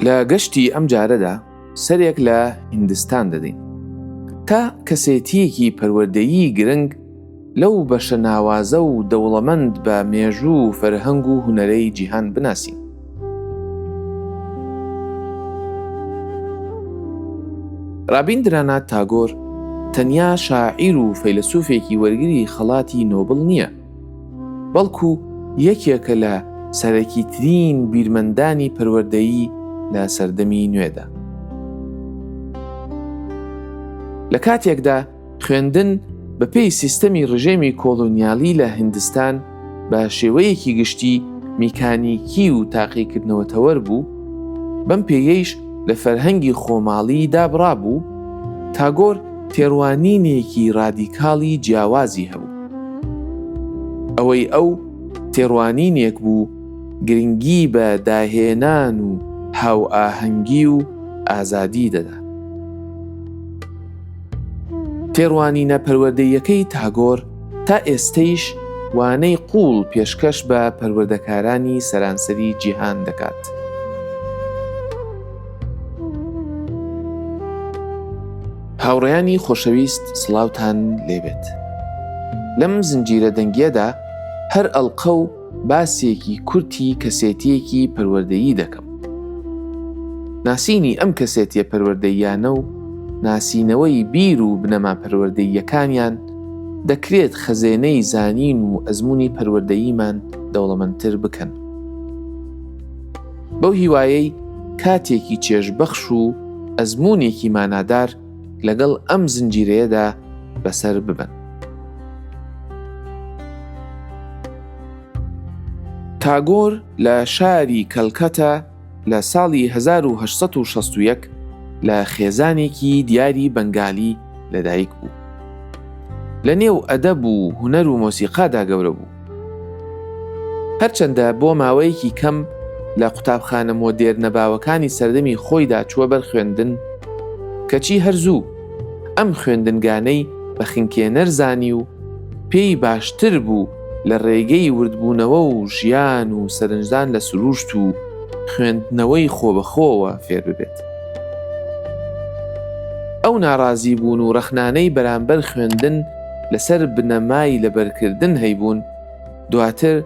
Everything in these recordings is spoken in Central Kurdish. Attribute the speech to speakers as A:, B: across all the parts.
A: لە گەشتی ئەم جارەدا سەرێک لە هندستان دەدەین تا کەسێتیەکی پەروەردەیی گرنگ لەو بەشە ناوازە و دەوڵەمەند بە مێژوو و فەرهەنگ و هونەرەی جیهان بناسین. رابیندرانات تاگۆر تەنیا شاعیر و فەیلەسوفێکی وەرگری خەڵاتی نۆبڵ نییە، بەڵکو یەکێکە لە سەرەکی ترین بیرمەندانی پەروەردەیی لە سەردەمی نوێدا. لە کاتێکدا خوێندن بە پێی سیستەمی ڕژێمی کۆلۆنیالی لە هندستان بە شێوەیەکی گشتی میکانیکی و تاقیکردنەوەتەوەر بوو بەم پێیەیش لە فەرهەنگی خۆماڵی دابڕا بوو تاگۆر تێڕوانینێکی ڕادیکاڵی جیاوازی هەبوو ئەوەی ئەو تێڕوانینێک بوو گرنگی بە داهێنان و هاو ئاهەنگی و ئازادی دەدا تێڕوانینە پەروەردەییەکەی تاگۆر تا ئێستەیش وانەی قووڵ پێشکەش بە پەروەردەکارانی سەرانسەری جیهان دەکات. هاوڕێیانی خۆشەویست سڵاوتان لێبێت لەم زنجیرە دەنگیەدا هەر ئەڵقە و باسێکی کورتی کەسێتیەکی پەروەردەیی دەکەم. ناسینی ئەم کەسێتیە پەروەردەیانە و ناسینەوەی بیر و بنەما پەروەردەییەکانیان دەکرێت خەزێنەی زانین و ئەزمموی پەروەردەییمان دەوڵەمەندتر بکەن. بەو هیوایەی کاتێکی چێژبەخش و ئەزمونێکی مانادار لەگەڵ ئەم زنجیرەیەدا بەسەر ببن. تاگۆر لە شاری کەلکەتە لە ساڵی 1960 لە خێزانێکی دیاری بەنگالی لەدایک بوو. لە نێو ئەدەب و هوەر و مۆسیقادا گەورە بوو. هەرچەندە بۆ ماوەیەکی کەم لە قوتابخانە مۆدێرنە باوەکانی سەردەمی خۆیدا چووە بەر خوێندن، کەچی هەر زوو ئەم خوێندنگانەی بە خنکێنەر زانی و پێی باشتر بوو لە ڕێگەی وردبوونەوە و ژیان و سەرنجدان لە سرووشت و خوێندنەوەی خۆبەخۆوە فێر ببێت. ئەو ناڕازیبوون و ڕەخنانەی بەرامبەر خوێندن، لەسەر بنەمای لەبەرکردن هەیبوون، دواتر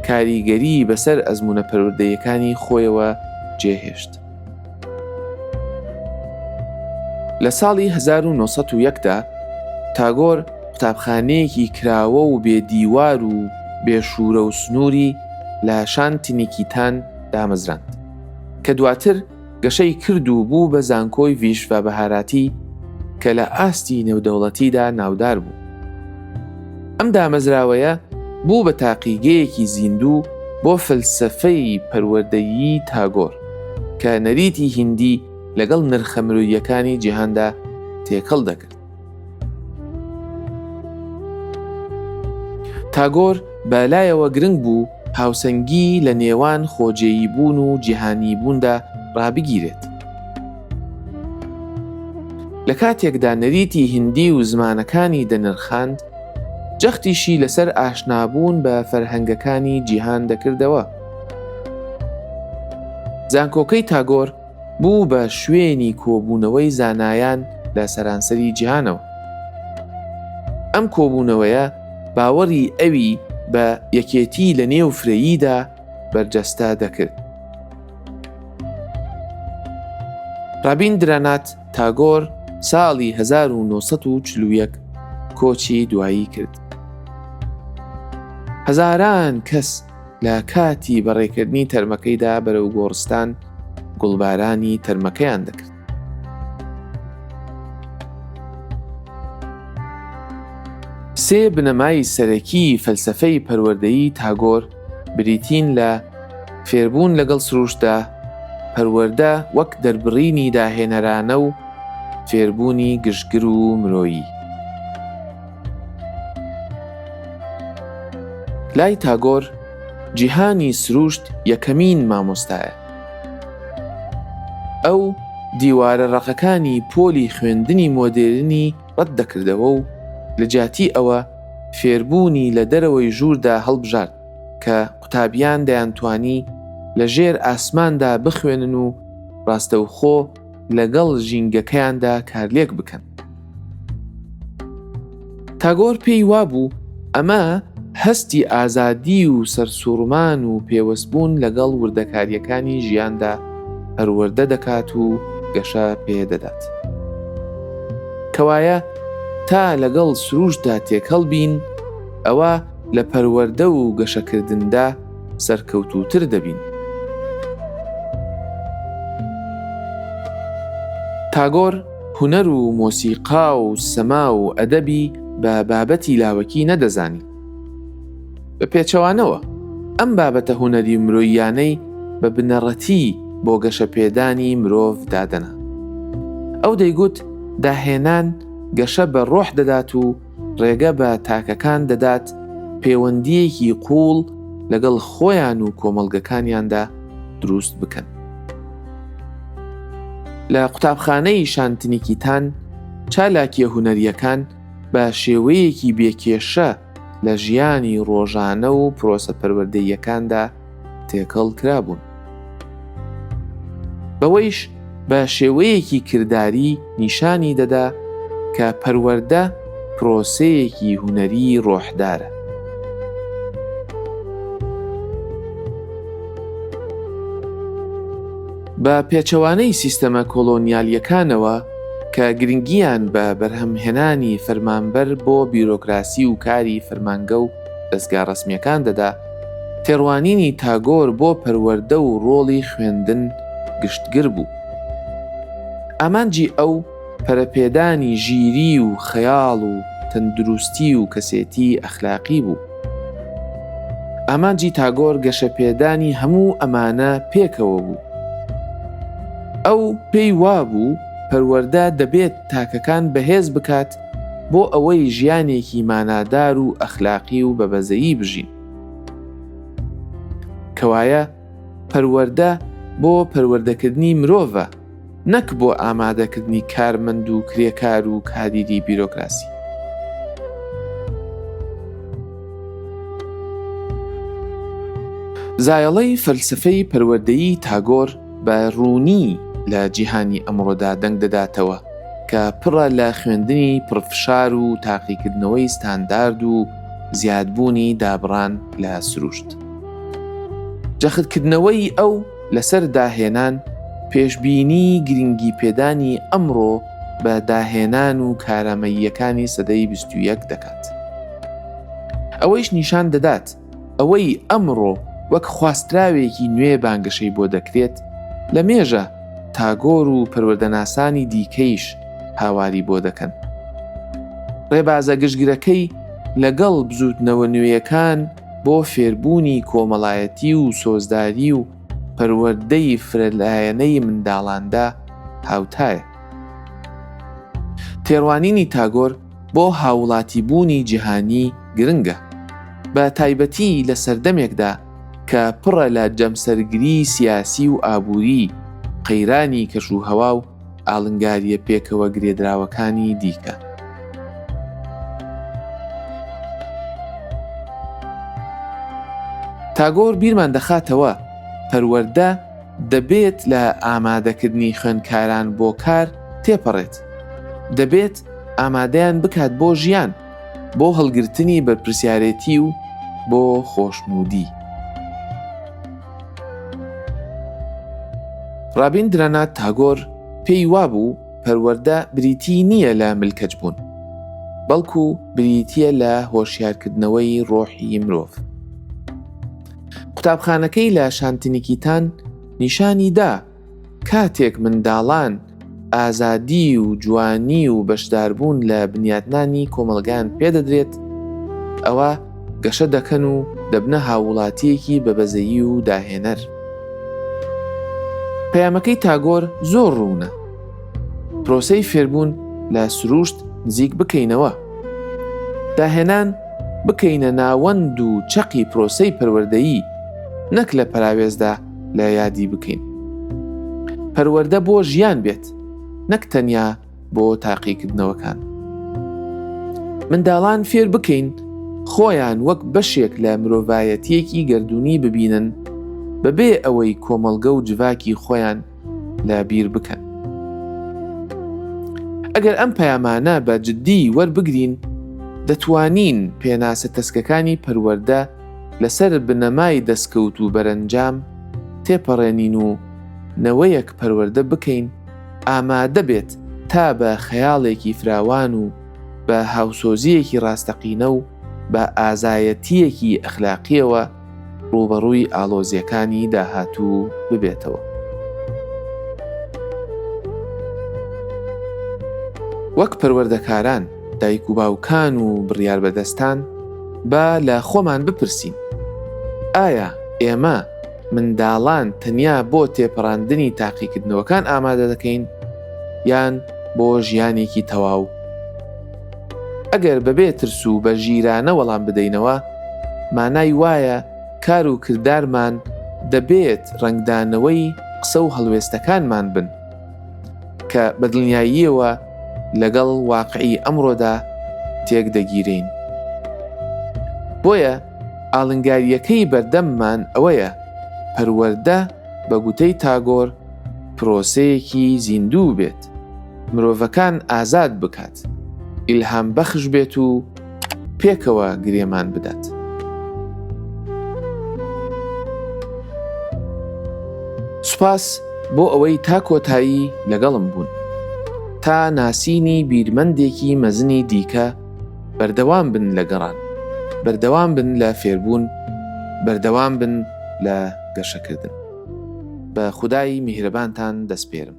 A: کاریگەریی بەسەر ئەزموونە پەروەردەییەکانی خۆیەوە جێهێشت. لە ساڵی 1901 دا تاگۆر قوتابخانەیەکی کراوە و بێ دیوار و بێ شوورە و سنووری لە شانتینیکیتان دامەزراند کە دواتر گەشەی کرد و بوو بە زانکۆی ڤیشڤە بەهاراتی کە لە ئاستی نێودەوڵەتیدا ناودار بوو. ئەم دامەزراوەیە بوو بە تاقیگەیەکی زیندوو بۆ فەلسەفەی پەروەردەیی تاگۆر کە نەریتی هیندی لەگەڵ نرخە مرۆییەکانی جیهاندا تێکەڵ دەکرد. تاگۆر بە لایەوە گرنگ بوو هاوسەنگی لە نێوان خۆجێیی بوون و جیهانی بووندا ڕابگیرێت. لە کاتێکدا نەریتی هندی و زمانەکانی دەنرخاند، جەختیشی لەسەر ئاشنابوون بە فەرهەنگەکانی جیهان دەکردەوە. زانکۆکەی تاگۆر بوو بە شوێنی کۆبوونەوەی زانایان لە سەرانسەری جیهانەوە. ئەم کۆبوونەوەیە باوەڕی ئەوی بە یەکێتی لە نێو فرەییدا بەرجەستە دەکرد. ڕابین درانات تاگۆر ساڵی 1940 کۆچی دوایی کرد. هەزاران کەس لە کاتی بەڕێکردنی تەرمەکەیدا بەرەو گۆڕستان گوڵبارانی تەرمەکەیان دەکرد. سێ بنەمای سەرەکی فەلسفەی پەروەردەیی تاگۆر بریتین لە فێربوون لەگەڵ سروشتدا، پەروەردە وەک دەربڕینی داهێنەرانە و فێربوونی گشتگر و مرۆیی. لای تاگۆر جیهانی سروشت یەکەمین مامۆستایە. ئەو دیوارە ڕەقەکانی پۆلی خوێندنی مۆدێرنی ڕەت دەکردەوە و لە جیاتی ئەوە فێربوونی لە دەرەوەی ژووردا هەڵبژارد کە قوتابیان دەیانتوانی لە ژێر ئاسماندا بخوێنن و ڕاستەوخۆ لەگەڵ ژینگەکەیاندا کارلێک بکەن. تاگۆر پێی وابوو ئەمە هەستی ئازادی و سەرسوڕمان و پێوەستبوون لەگەڵ وردەکارییەکانی ژیاندا پەروەردە دەکات و گەشە پێدەدات. کەوایە تا لەگەڵ سروشتدا تێکەڵ بین ئەوە لە پەروەردە و گەشەکردندا، سەرکەوتووتر دەبین. تاگۆر هونەر و مۆسیقا و سەما و ئەدەبی بە بابەتی لاوەکی نەدەزانی. بە پێچەوانەوە، ئەم بابەتە هونەری و مرۆییانەی بە بنەڕەتی بۆ گەشەپێدانی مرۆڤ دادەنا. ئەو دەیگوت داهێنان گەشە بە ڕۆح دەدات و، ڕێگە بە تاکەکان دەدات پێوەندیەکی قوڵ لەگەڵ خۆیان و کۆمەڵگەکانیاندا دروست بکەن. لە قوتابخانەی شانتنیکیتان چالاکیە هوەریەکان بە شێوەیەکی بێکێشە لە ژیانی ڕۆژانە و پرۆسە پەروەردەیەکاندا تێکەڵ کرابوون. بەوەیش بە شێوەیەکی کرداری نیشانی دەدا کە پەروەەردە پرۆسەیەکی هوەری ڕۆحدارە. بە پێچەوانەی سیستەمە کۆلۆنیالیەکانەوە کە گرنگیان بە بەرهەمهێنانی فەرمانبەر بۆ بیرۆکراسی و کاری فەرمانگە و دەزگا ڕەسمییەکان دەدا، تێڕوانینی تاگۆر بۆ پەروەردە و ڕۆڵی خوێندن گشتگر بوو. ئامانجی ئەو پەرەپێدانی ژیری و خەیاڵ و تەندروستی و کەسێتی ئەخلاقی بوو. ئامانجی تاگۆر گەشەپێدانی هەموو ئەمانە پێکەوە بوو. ئەو پێی وابوو پەروەردە دەبێت تاکەکان بەهێز بکات بۆ ئەوەی ژیانێکی مانادار و ئەخلاقی و بە بەزەیی بژین. کەوایە پەروەردە بۆ پەروەردەکردنی مرۆڤە نەک بۆ ئامادەکردنی کارمەند و کرێکار و کادیری بیرۆکراسی. زایەڵەی فەلسەفەی پەروەردەیی تاگۆر بە ڕوونی لە جیهانی ئەمڕۆدا دەنگ دەداتەوە کە پڕە لە خوێندنی پڕفشار و تاقیکردنەوەی ستاندارد و زیادبوونی دابڕان لە سروشت. جەختکردنەوەی ئەو لەسەر داهێنان پێشبینی گرنگی پێدانی ئەمڕۆ بە داهێنان و کارامەییەکانی سەدەی بیست و یەک دەکات. ئەوەیش نیشان دەدات ئەوەی ئەمڕۆ وەک خواستراوێکی نوێ بانگەشەی بۆ دەکرێت، لە مێژە تاگۆر و پەروەردەناسانی دیکەیش هاواری بۆ دەکەن. ڕێبازە گشتگرەکەی لەگەڵ بزووتنەوە نوێیەکان بۆ فێربوونی کۆمەڵایەتی و سۆزداری و پەروەردەی فرەلایەنەی منداڵاندا هاوتایە. تێڕوانینی تاگۆر، بۆ هاووڵاتیبوونی جیهانی گرنگە، بە تایبەتی لە سەردەمێکدا کە پڕە لە جەمسەرگریی سیاسی و ئابووری، قەیرانی کەشوهەوا و ئاڵنگارییە پێکەوە گرێدراوەکانی دیکە. تاگۆر بیرمان دەخاتەوە، پەروەردە دەبێت لە ئامادەکردنی خوێندکاران بۆ کار تێپەڕێت، دەبێت، ئامادەیان بکات بۆ ژیان بۆ هەڵگرتنی بەرپرسیارێتی و بۆ خۆشنودی. ڕابین درەنات تاگۆر پێی وابوو پەروەەردە بریتی نییە لە ملکەچ بوون بەڵکو بریتە لە هۆشیارکردنەوەی ڕۆحی مرۆڤ قوتابخانەکەی لە شانتنیکیتان نیشانی دا کاتێک منداڵان ئازادی و جوانی و بەشداربوون لە بنیاتنانی کۆمەڵگان پێدەدرێت، ئەوا گەشە دەکەن و دەبنە هاووڵاتییەکی بە بەزەیی و داهێنەر. پەیامەکەی تاگۆر زۆر ڕوونە، پرۆسەی فێربوون لە سرووشت نزیک بکەینەوە، داهێنان بکەینە ناوەند و چەقی پرۆسەی پەروەردەیی، نەک لە پەراوێزدا، لە یادی بکەین پەروەەردە بۆ ژیان بێت نەک تەنیا بۆ تاقیکردنەوەکان منداڵان فێر بکەین خۆیان وەک بەشێک لە مرۆڤایەتیەکی گردردونی ببینن بەبێ ئەوەی کۆمەڵگە و جڤاکی خۆیان لە بیر بکەن ئەگەر ئەم پەیامانە بە جددی وەربگرین دەتوانین پێناسە تەسکەکانی پەروەەردە لەسەر بنەمای دەستکەوت و بەرەنجام تێپەڕێنین و نەوەیەک پەروەردە بکەین ئامادە بێت تا بە خەیاڵێکی فراوان و بە هاوسۆزییەکی ڕاستەقینە و بە ئازایەتییەکی ئەخلاقییەوە ڕووبەڕووی ئاڵۆزییەکانی داهاتوو ببێتەوە. وەک پەروەردەکاران، دایک و باوکان و بڕیاربەدەستان با لە خۆمان بپرسین ئایا ئێمە منداڵان تەنیا بۆ تێپەڕاندنی تاقیکردنەوەکان ئامادە دەکەین یان بۆ ژیانێکی تەواو ئەگەر بەبێ ترس و بە ژیرانە وەڵام بدەینەوە مانای وایە کار و کردارمان دەبێت ڕنگدانەوەی قسە و هەڵوێستەکانمان بن کە بە دڵنیاییەوە لەگەڵ واقعی ئەمڕۆدا تێک دەگیرین. بۆیە ئاڵنگاریەکەی بەردەممان ئەوەیە پەروەەردە بە گوتەی تاگۆر پرۆسەیەکی زیندوو بێت، مرۆڤەکان ئازاد بکات، ئیلهام بەخش بێت و پێکەوە گرێمان بدات. سوپاس بۆ ئەوەی تا کۆتایی لەگەڵم بوون تا ناسینی بیرمەندێکی مەزنی دیکە بەردەوام بن لە گەڕان بەردەوام بن لە فێربوون بەردەوام بن لە گەشەکردن بە خودایی میهرەبانتان دەستپێرم